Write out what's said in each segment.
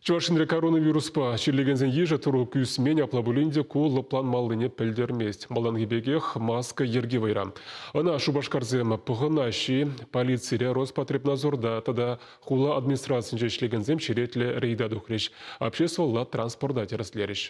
Чӑваш Енре коронавируспа чирлекенсен йышӗ тӑрук ӳсмен, апла пулин те ку лӑпланмаллине пӗлтермест. Малтанхи пекех маска йӗрки вӑйра. Ӑна Шупашкарсем пӑхӑнаҫҫӗ-и, полицире Роспотребнадзорта тата хула администрацийӗнче ӗҫлекенсем черетлӗ рейда тухрӗҫ, обществӑлла транспорта тӗрӗслерӗҫ.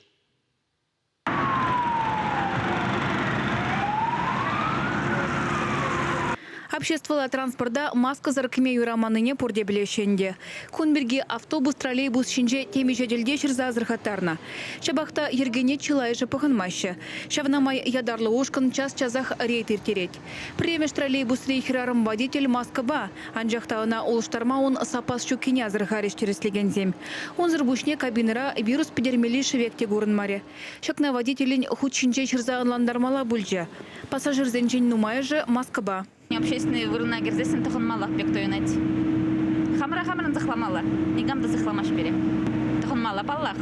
Обществӑлла транспорта маскӑсӑр кӗме юраманнине пурте пӗлеҫҫӗ ӗнтӗ. Кун пирки автобус-троллейбус ҫинче темиҫе тӗлте ҫырса асӑрхаттарнӑ. Ҫапах та йӗркене чылайӑшӗ пӑхӑнмаҫҫӗ. Ҫавна май ятарлӑ ушкӑн час-часах рейд ирттерет. Пӗрремӗш троллейбусри хӗрарӑм-водитель маскӑпа, анчах та ӑна улӑштарма ун саппас ҫуккине асӑрхарӗҫ тӗрӗслекенсем. Унсӑр пуҫне кабинӑра вирус пӗтермелли шӗвек те курӑнмарӗ. Ҫакна водителӗн хут ҫинче ҫырса ӑнлантармалла пулчӗ. Пассажирсенчен нумайӑшӗ маскӑпа. Общественнӑй вырӑна кӗрсессӗн тӑхӑнмаллах пек туйӑнать. Хамӑра хамӑрӑн сыхламалла, никам та сыхламасть пире. Тӑхӑнмалла, паллах.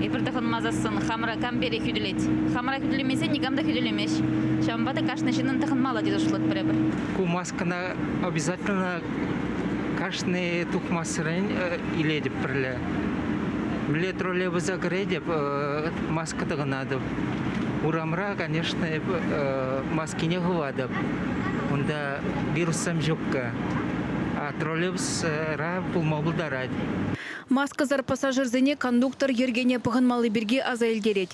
Эпир тӑхӑнмасассӑн хамӑра кам пире хӳтӗлет? Хамӑра хӳтӗлемесен никам та хӳтӗлемест. ӗҫ. Ҫавӑнпа та кашни ҫыннӑн тӑхӑнмалла тесе шутлатпӑр эпир. Ку маскӑна обязательно кашни тухмассерен илетӗп пӗрле. Млет роле пырса кӗретӗп, маска тӑкӑнатӑп. Урамра, конечно, маскине хыватӑп. Унта вируссам ҫукка. А троллейбусра пулма пултарать. Маскӑсӑр пассажирсене кондуктор йӗркене пӑхӑнмалли пирки аса илтерет.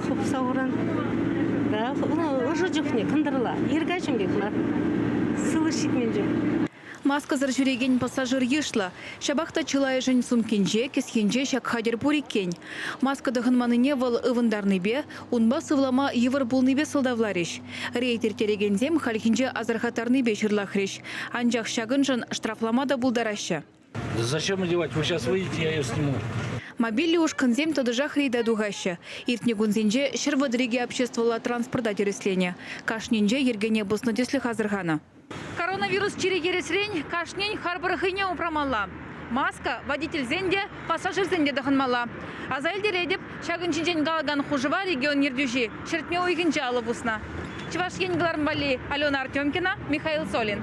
хупса уран. Да, ну, ӑшӑ чухне кӑнтӑрла. Иркачӑн пек мар. Сывлӑш ҫитмен чух. Маскӑсӑр ҫӳрекен пассажир йышлӑ. Ҫапах та чылайӑшӗн сумкинче, кӗсйинче ҫак хатӗр пур иккен. Маска тӑхӑнманнине вӑл ывӑнтарнипе, унпа сывлама йывӑр пулнипе сӑлтавларӗҫ. Рейд ирттерекенсем хальхинче асӑрхаттарнипе ҫырлахрӗҫ, анчах ҫакӑншӑн штрафлама та пултараҫҫӗ. Зачем одевать? Вы сейчас выйдете, я ее сниму. Мобильлӗ ушкӑнсем тӑтӑшах рейда тухаҫҫӗ. Иртнӗ кунсенче ҫӗр вӑтӑрикӗ обществӑлла транспорта тӗрӗсленӗ. Кашнинче йӗркене пӑснӑ тӗслӗх асӑрханӑ. Коронавирус чирӗ-кӗресрен кашнин харпӑр хӑйне упрамалла. Маска, водительсен те, пассажирсен те тӑхӑнмалла. Аса илтеретӗп, ҫакӑн ҫинчен калакан хушӑва регион ертӳҫи ҫӗртме уйӑхӗнче алӑ пуснӑ. Чӑваш Ен кӑларӑм валли Алена Артемкина, Михаил Солин.